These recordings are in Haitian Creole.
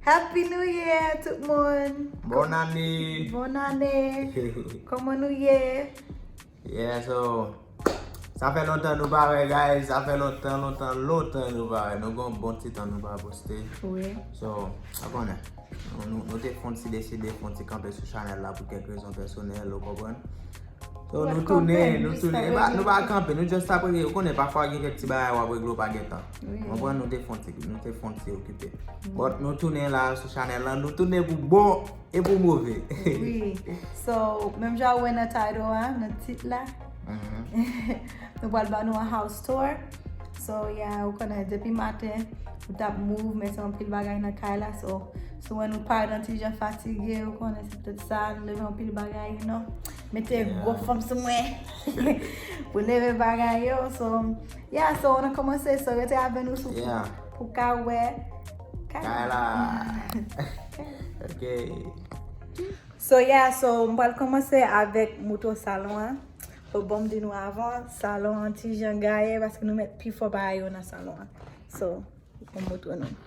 Happy new year tout moun! Bon ane! Bon ane! Koman nou ye? Yeah so, sa fè lontan nou pa wè guys, sa fè lontan lontan lontan nou pa wè, nou gen yon bon ti tan nou pa poste. Wi. So, sa konnen, nou te fon ti deside fon ti kanpe sou chanèl la pou kèk rezon pèsonèl ou konprann. Yo nou tounen, nou tounen, nou pa kanpe, nou just ap regle, ou konnen pafwa gen kèk ti bagay wap regle ou pa gen tan. Ou konprann nou te fon ti, nou te fon ti okipe. But nou tounen la sou chanèl la, nou tounen pou bon e pou move. Wi, so menm jan ou wè nan title a, nan tit la, nou pwal ban nou an house tour. So ya ou konnen depi maten, nou tap move men se yon pil bagay nan kay la, so si ou wè nou pa yon ti jan fatige ou konnen. Tout sa nou leve yon pil bagay you know. Mete gwo fòm sou mwen. Pou leve bagay yo. So, yeah, so an an komanse. So, rete avè nou sou fwa. Pou ka wè. Kay la. Ok. So, yeah, so, m pral komanse avèk mouton salon an. So, bon m di nou avan, salon an ti jan gaye. Paske nou met pi fò bagay yo nan salon an. So, pou mouton nou.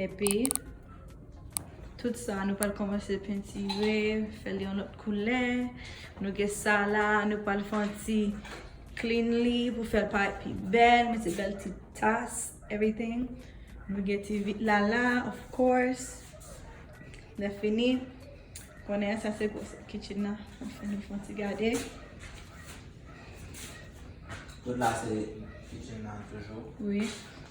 Epi, tout sa nou pral kòmanse pentire, fè l yon lòt koulè. Nou gen sa la, nou pral fè yon ti clean li pou fè l parèt pi bèl, mete bèl ti tas, everything. Nou gen ti vit la la, of course. Lèfini, ou konnen sa se gwosè kitchen nan. Mwen fè nou fè yon ti gade. Tout la se kitchen nan toujou. Wi.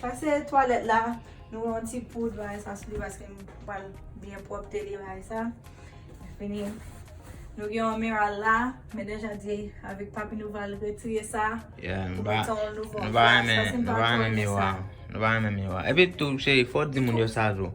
Pase twalèt la, nou wè yon ti poud bagay sa sou li paske m pral byen pwòpte li bagay sa. Lè fini, nou gen yon mira la, men deja di avèk papi nou pral retire sa pou mete yon nouvo. Nou pa renmen, nou pa renmen miwa. Nou pa renmen miwa. Epi tou cheri, fò w di moun yo sa jou.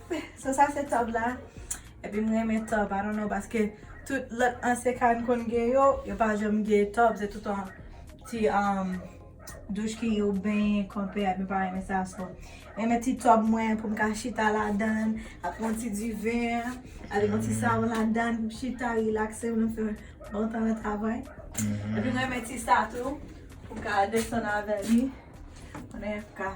So sa se tub la. Epi m renmen tub. I don't know paske tout lòt ansyen kay m konn gen yo, yo pa janm gen tub. Se tout an ti um douch ki ou benyen konpe a. M pa renmen sa. So m renmen ti tub mwen pou m ka chita ladann. Ak yon ti diven. Avèk yon ti savon ladann pou m chita relakse m. Fè bon tan nan travay. Epi m renmen ti sa tou. Pou m ka desann avè li. Konnen pou m ka.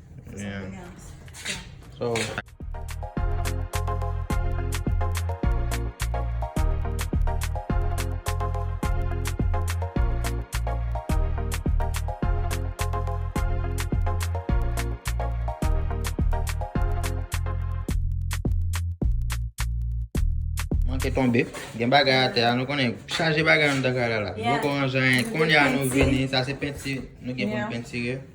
Manke tonbe, gen bagay a te a, nou konnen chaje bagay an dan kay la la. Boko an jan, konya nou vini, sa se penti, nou gen pou n pentire.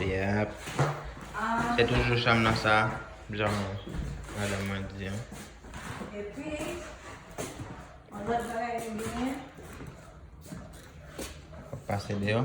Yep. Se toujou chanm nan sa. Janm madan mwen di an. E pi, an lòt bagay ki genyen. Wap pase deyò.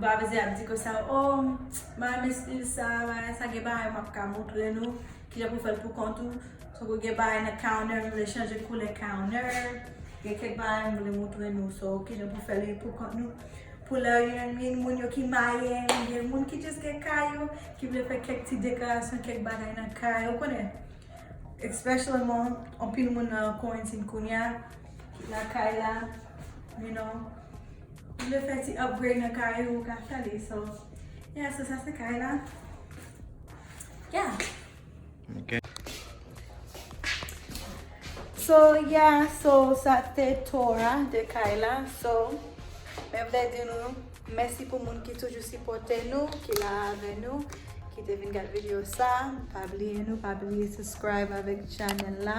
Bravizye ap di konsa oh m renmen stil sa bagay sa gen bagay map ka moutre nou kijan pou fèl pou kont ou tankou gen bagay nan counter m vle chanje koulè counter gen kèk bagay m vle moutre nou so kijan pou fèl pou kont nou pou lè gen moun yo ki marye gen moun ki jis gen kay yo ki vle fè kèk ti dekorasyon kèk bagay nan kay ou konnen espesyalman anpil moun nan korentin kounya. Lakay la you know ou vle fè ti upgrade nan kay ou ou ka fè li so yeah so sa se kay la yeah. So yeah so sa te tour a de kay la so mwen vle di nou mèsi pou moun ki toujou sipòte nou ki la avè nou ki te vin gad video sa pa bliye nou pa bliye subscribe avèk channel la.